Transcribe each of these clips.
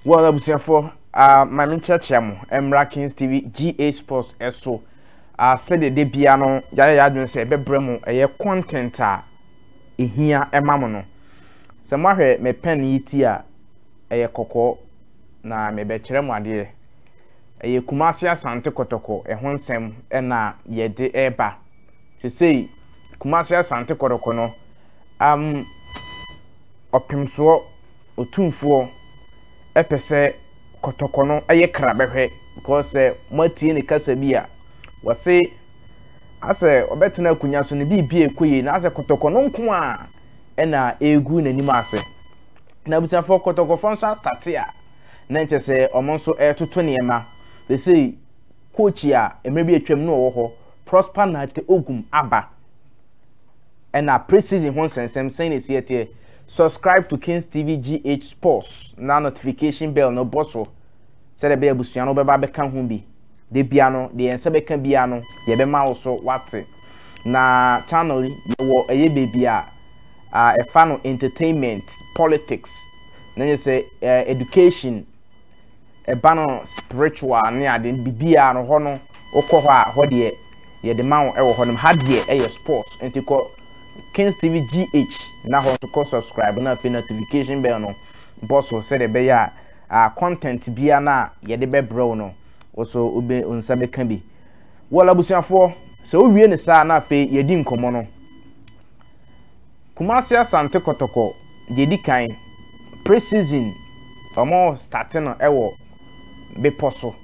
Well, abusuafoɔ, uh, ma me nkyerɛkyerɛ mo mmra Kings TV GA Sports so. Uh, sɛdeɛ da bia no yɛayɛ yɛadwene sɛ ɛbɛbrɛ mu ɛyɛ content a ɛhia ɛma mo no. Sɛ moahwɛ me pen yi ti a ɛyɛ kɔkɔɔ na mebɛkyerɛ mo adeɛ. Ɛyɛ Kumasi Asante Kɔtɔkɔ ɛho nsɛm ɛna yɛde ɛba. Sesei Kumasi Asante Kɔtɔkɔ no um, Ɔpemsoɔ Otumfoɔ pɛ sɛ kɔtɔkɔ no yɛ kra bɛhwɛ because sɛ moatie ne kasa bi a, wɔse asɛ ɔbɛtena akonnwa so no biribia ɛkɔ yie na asɛ kɔtɔkɔ no nko a ɛna ɛregu n'anim ase. Na abusuafoɔ kɔtɔkɔfoɔ nso astate a na nkyɛ sɛ wɔn nso ɛretoto nneɛma. Sɛsei coach a mmerɛ bi atwam na ɔwɔ hɔ Prosper Nate Ogum aba. ɛna pre season ho nsɛnsɛm sɛn na esi ɛteɛ subscribe to kings tv gh sports na notification bell no bɔ so sɛdeɛ ɛbɛyɛ abusua no bɛba bɛka ho bi de bia no deɛ yɛn nsa bɛka bia no yɛbɛma wo so wate na channel yi yɛwɔ ɛyɛ baabi a a ɛfa no entertainment politics na nyɛ sɛ eh, education ɛba no spiritual ne ade no bibiaa no hɔ no wokɔ hɔ a hɔ deɛ yɛde ma wo ɛwɔ hɔ nom ha deɛ ɛyɛ sports nti kɔ Kings TV GH na hɔ nso kɔ subscribe na afei notification bell no bɔ so sɛdeɛ ɛbɛyɛ a uh, content bia no a yɛde bɛbrɛ wo no wo so wobɛ nsa bɛka bi wɔla abusuafoɔ sɛ wowie ne saa na afei yɛdi nkɔmmɔ no Kumasi Asante Kɔtɔkɔ deɛ ɛdi kan pre season ɔmɔ starte no ɛwɔ bepɔ so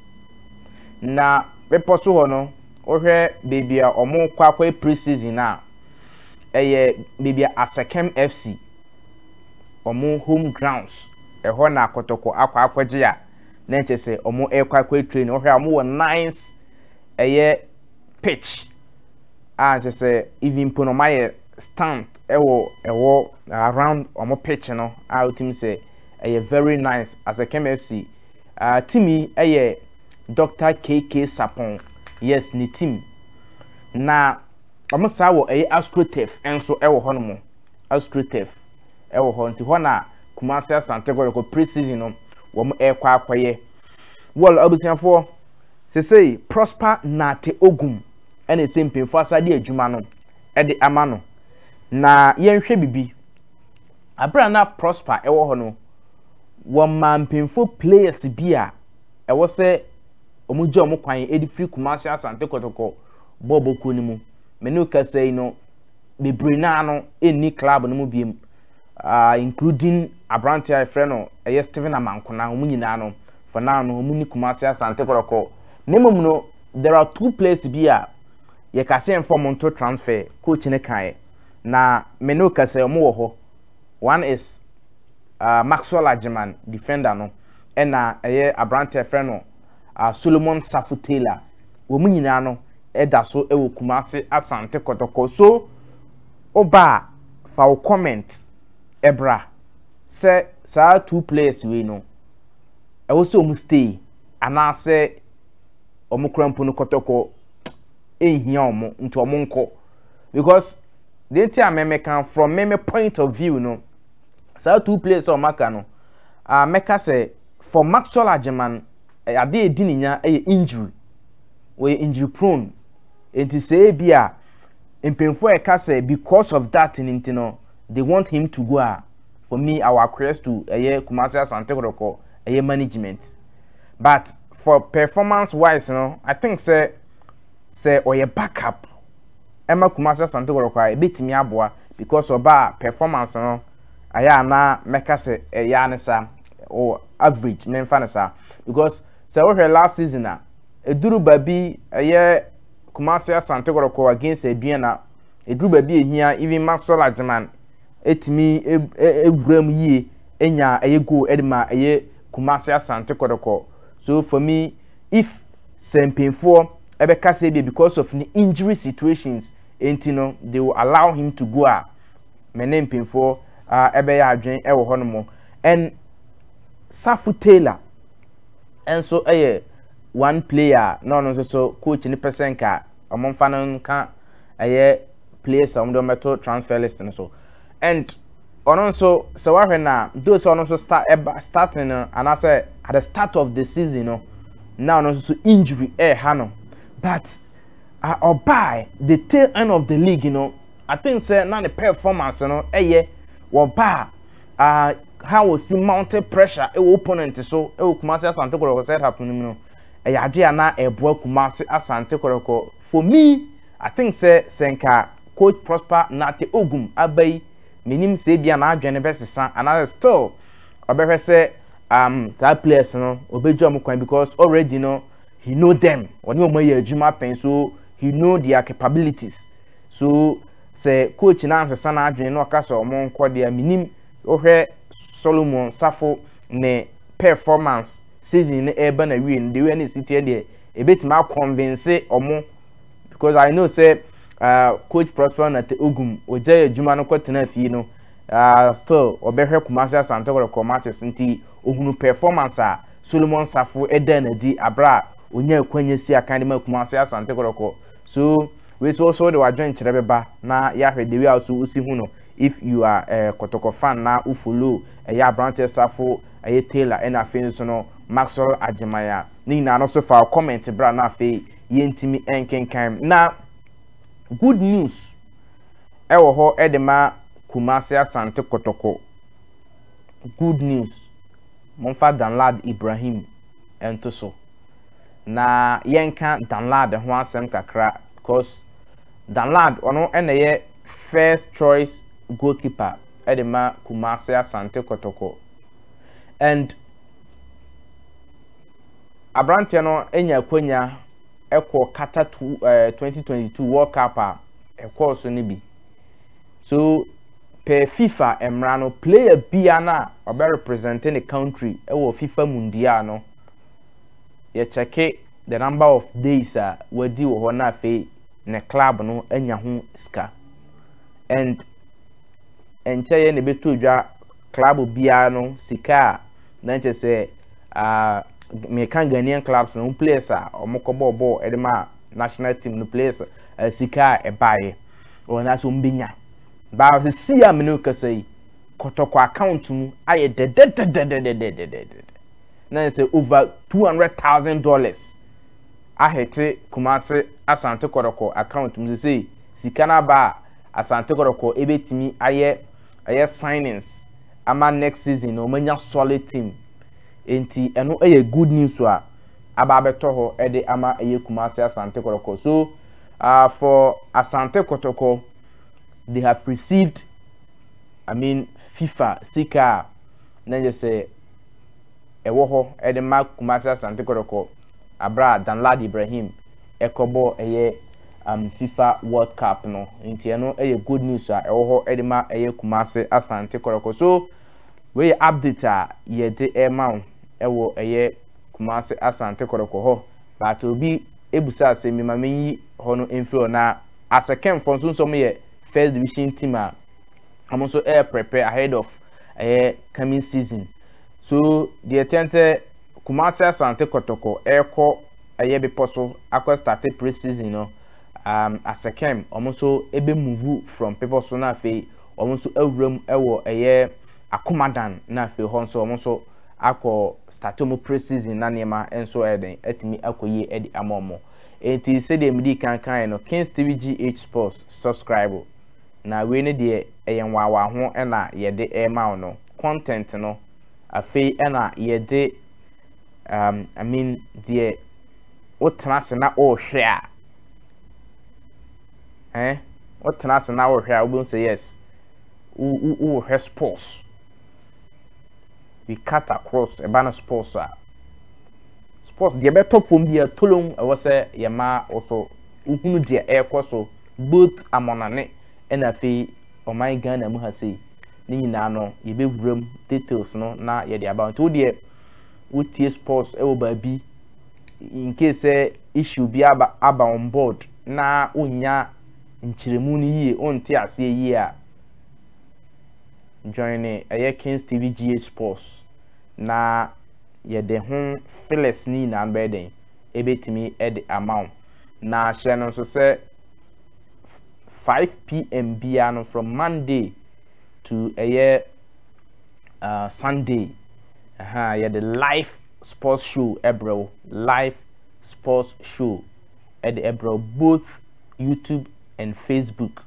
na bepɔ so hɔ no wohwɛ baabi a ɔmɔ kɔ akɔyɛ pre season no a ɛyɛ baabi a Asekem FC ɔmɔ home grounds ɛhɔ na Kɔtɔkɔ akɔ akɔgye a na ɛkyɛ sɛ ɔmɔ ɛkɔ akɔyɛ training wohwɛ a ɔmɔ wɔ nice ɛyɛ pitch a kyɛ sɛ even mpo no ɔmɔ ayɛ stand wɔ ɛwɔ around wɔn pitch no a wotumi sɛ ɛyɛ very nice as a Kemi FC uh, team yi ɛyɛ Dr. KK Sapon yes ne team na wɔn saa wɔ ɛyɛ Astrotef nso ɛwɔ hɔ nom Astrotef ɛwɔ hɔ nti hɔ na Kumasi Asante Kɔtɔkɔ pre-season no wɔn ɛrekɔ akɔyɛ wɔl abusuafoɔ sesei Prosper Nate Ogum ɛna ɛsɛ mpanyinfoɔ asade adwuma no. de ama no. Na yɛnhwɛ biribi. Bere a na Prosper wɔ hɔ no, wɔmaa mpanyimfo players bi a ɛwɔ sɛ wɔgya wɔn kwan de firi Kumasi Asante Kɔtɔkɔ bɔɔ bokuo no mu. Me ne wo kasa yi no, bebree no ara no nni club no mu biom, uh, including aberanteɛ a yɛfrɛ no ɛyɛ Stephen Amankona, wɔn nyinaa no, for now no, wɔn ni Kumasi Asante Kɔtɔkɔ. Na mmom no, there are two players bi a Yɛkaa sɛ yɛmfa wɔn nto transfer, coach no kaeɛ. Na me ne wo ka sɛ wɔwɔ hɔ. One is uh, Maxwell Agyeman, defender no, ɛna ɛyɛ aberante ɛfrɛ no uh, Solomon Safo Taylor. Wɔn nyinaa no ɛda so ɛwɔ Kumase Asante Kɔtɔkɔ. So woba a fa wo comment ɛbra sɛ saa two players wei no ɛwɔ sɛ wɔn stay anaasɛ wɔn kura mpo no Kɔtɔkɔ ɛnhia wɔn nti wɔn nkɔ because deɛ nti a mɛmɛka from me me point of view no saa two players a wɔn aka no a mɛka sɛ for maxwell agyeman eh, ade a ɛdi ne nya yɛ injury wɔyɛ injury prone nti sɛ ebi a mpanyinfoɔ a ɛka sɛ because of that ne nti no they want him to go a for me our quest to ɛyɛ kumasi asante kɔkɔ ɛyɛ management but. for performance wise no i think sɛ sɛ ɔyɛ back up ɛma kumasi asante kɔrɔkɔ a ebetumi aboa because ɔbaa performance no ayɛ a na mɛka sɛ ɛyɛ ne saa o average mɛmfa ne saa because sɛ wohwɛ last season a eduru baabi ɛyɛ kumasi asante kɔrɔkɔ against aduan na eduru baabi ehia even maxwell agyeman etumi ewura mu yie enya ɛyɛ goal ɛde ma ɛyɛ Kumasi Asante Kɔtɔkɔ so for me if sɛ mpanyinfoɔ ɛbɛka sɛ ebia because of ne injury situations nti no they will allow him to go a me ne mpanyinfoɔ ɛbɛyɛ adwen ɛwɔ hɔ nom and Safu Taylor ɛnso ɛyɛ one player na ɔno nso so coach ne pɛ sɛ nka wɔn mfa no nka ɛyɛ players a wɔn de wɔn bɛto transfer list no so and. Ɔno nso sɛ wahwɛ no a, though sɛ ɔno nso start ɛba eh, starting no anaasɛ at the start of the season no na ɔno nso so injury ɛreha eh, no but ɔbaa uh, the tail end of the league you know, I think sɛ na ne performance no ɛyɛ wɔbaa uh, ha wɔsi mountain pressure ɛwɔ opponent so ɛwɔ Kumasi Asante Kɔrɔkɔ set up no mu no ɛyɛ adeɛ a na ɛboa Kumasi Asante Kɔrɔkɔ for me I think sɛ sɛ nka coach Prosper Nate Ogum aba yi Mennim sɛ ebia n'adwene no bɛsesa anaasɛ still ɔbɛhwɛ sɛ um, saa players no ɔbɛgya wɔn kwan because already no he know them ɔne wɔn ayɛ adwuma pɛn so he know their capabilities so sɛ coach no ansesa n'adwene na ɔka sɛ wɔn nkɔ deɛ menim wohwɛ Solomon Safo ne performance season no ɛreba na wie no deɛ wei ne ɛsi teɛ deɛ ɛbɛtumi akɔnvinse wɔn because i know sɛ uh, coach prosper na te ogum ogya yɛ adwuma no kɔtena fie no uh, still ɔbɛhwɛ kumase asante kɔkɔ matches nti ohunu performance a solomon safo ɛda no adi abere a onya akwanya si akan de ma kumase asante kɔkɔ so wei so so de wadwen kyerɛ bɛba na yɛahwɛ de wei a so wosi hu no if you are uh, kɔtɔkɔ fan na wo follow ɛyɛ uh, aberanteɛ safo ɛyɛ taylor ɛna afei nso no maxwell agyemaya ne nyinaa no so fa comment bra na afei yɛntumi nkenkan. Na good news ɛwɔ hɔ ɛde ma Kumasi Asante Kotoko. Good news. Momfa Danlad Ibrahim ɛnto so. Na yɛnka Danlad ho asɛm kakra because Danlad ɔno ɛna ɛyɛ first choice goalkeeper ɛde ma Kumasi Asante Kotoko. And aberanteɛ no anya akwanya kɔ Qatar 2022 eh, World Cup a ɛkɔɔ so no bi so per FIFA mmara no player bia no a ɔbɛ represent ne country wɔ FIFA mundial no yɛkyɛke the number of days a wadi wɔ hɔ na afei ne club no anya ho sika and ɛnkyɛ yɛ na ɛbɛtɔ dwa club biara no sika a na nkyɛ sɛ Ah, meka Ghanaian clubs no ho players a wɔkɔbɔɔ bɔɔl de ma national team no players a eh, sika a ɛbaeɛ wɔn ase wɔn bɛnya baa sɛ si a mene kasa yi kɔtɔkɔ account mu ayɛ dɛdɛdɛdɛdɛdɛdɛdɛdɛ na sɛ over two hundred thousand dollars ahete Kumasi Asante Kɔtɔkɔ account mu sɛ sika no aba a Asante Kɔtɔkɔ ebɛtumi ayɛ ɛyɛ signings ama next season na wɔn anya solid team. Enti ɛno yɛ good news a aba abɛtɔ hɔ de ama ɛyɛ Kumasi Asante Kɔtɔkɔ. So uh, for Asante Kɔtɔkɔ, they have received, I mean, FIFA sika a na nyɛ sɛ ɛwɔ hɔ de ma Kumasi Asante Kɔtɔkɔ abira a Danlad Ibrahim ɛkɔbɔ ɛyɛ um, FIFA World Cup no. Nti ɛno ɛyɛ good news a ɛwɔ hɔ de ma ɛyɛ Kumasi Asante Kɔtɔkɔ. So Wei yɛ update a yɛde rema wo wɔ ɛyɛ Kumasi Asante Kɔtɔkɔ hɔ but obi bisa asɛm bi ma menyi hɔ no mfiri hɔ na Asekem fɔ nso nso wɔn yɛ first division team a wɔn nso ɛyɛ prepare ahead of ɛyɛ coming season so deɛ kyɛn sɛ Kumasi Asante Kɔtɔkɔ ɛrekɔ ɛyɛ bepɔ so akɔ starte pre season no um, Asekem wɔn nso ɛbɛ move from bepɔ so na afei wɔn nso awura mu wɔ ɛyɛ Akomadan na afei hɔ nso wɔn nso akɔ start wɔn pre season na nneɛma nso ɛyɛ den atumi akɔ yie de ama wɔn eti sɛdeɛ midi kan kan yɛ no Kings TV GH Sports subscribe na wei ne deɛ ɛyɛ nwaawa ho ɛna yɛde ɛma wɔn no content no afei ɛna yɛde um, I mean deɛ wotena ase na ɔrehwɛ a Eh, wo tena ase na wo hwɛ a, wobɛhu sɛ yes, wo wo wo hwɛ sports. We cut across, ɛba no sports a. Sports deɛ ɛbɛtɔ fam bi a tolom ɛwɔ sɛ yɛma wo so wohunu deɛ ɛrekɔ so both amɔnane ɛna afei ɔman Ghana mu ha sei ne nyinaa no yɛbɛwura mu details no na yɛde aba nti wo deɛ wotie sports ɛwɔ baabi in case sɛ issue bi aba aba on board na wonnya nkyerɛmu no yie wonte aseɛ yie a join ne ɛyɛ Kings TV GH Sports na yɛde ho files ne nyinaa bɛyɛ dɛn ɛbɛtumi de ama wo na hyɛ no nso sɛ 5pm biara no from Monday to ɛyɛ uh, Sunday uh, yɛde live sports show brɛ wo, live sports show de brɛ wo both YouTube and Facebook.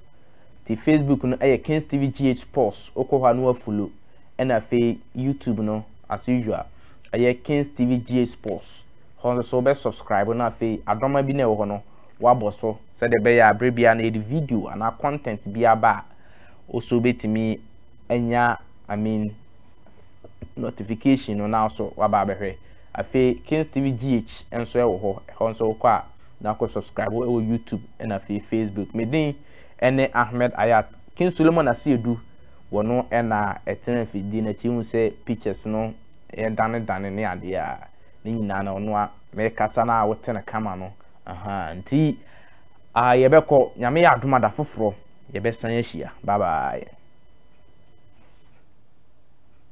Ti Facebook no yɛ Kings TV GH Sports, wokɔ hɔ a no afulo. Ɛna afei YouTube no as usual ɛyɛ Kings TV GH Sports. Hɔ nso so wobɛ subscribe na afei adɔma bi na ɛwɔ hɔ no wabɔ so sɛdeɛ ɛbɛyɛ a berɛ biara no yɛde video anaa content bi aba a also wobɛtumi anya I mean notification no na so waba abɛhwɛ afei Kings TV GH nso ɛwɔ hɔ ɛhɔ nso wokɔ a na kɔ subscribe ɛwɔ YouTube ɛna afei Facebook me din ɛne Ahmed Ayat King Solomon Asiedu wɔ no ɛna ɛtena mfidie no akyi hu sɛ pictures no yɛ dane dane ne adeɛ a ne nyinaa na ɔno a mekasa no a wote no kama no aha nti a yɛbɛkɔ nyame yɛ adom ada foforɔ Yɛbɛsan ahyia. Bye bye.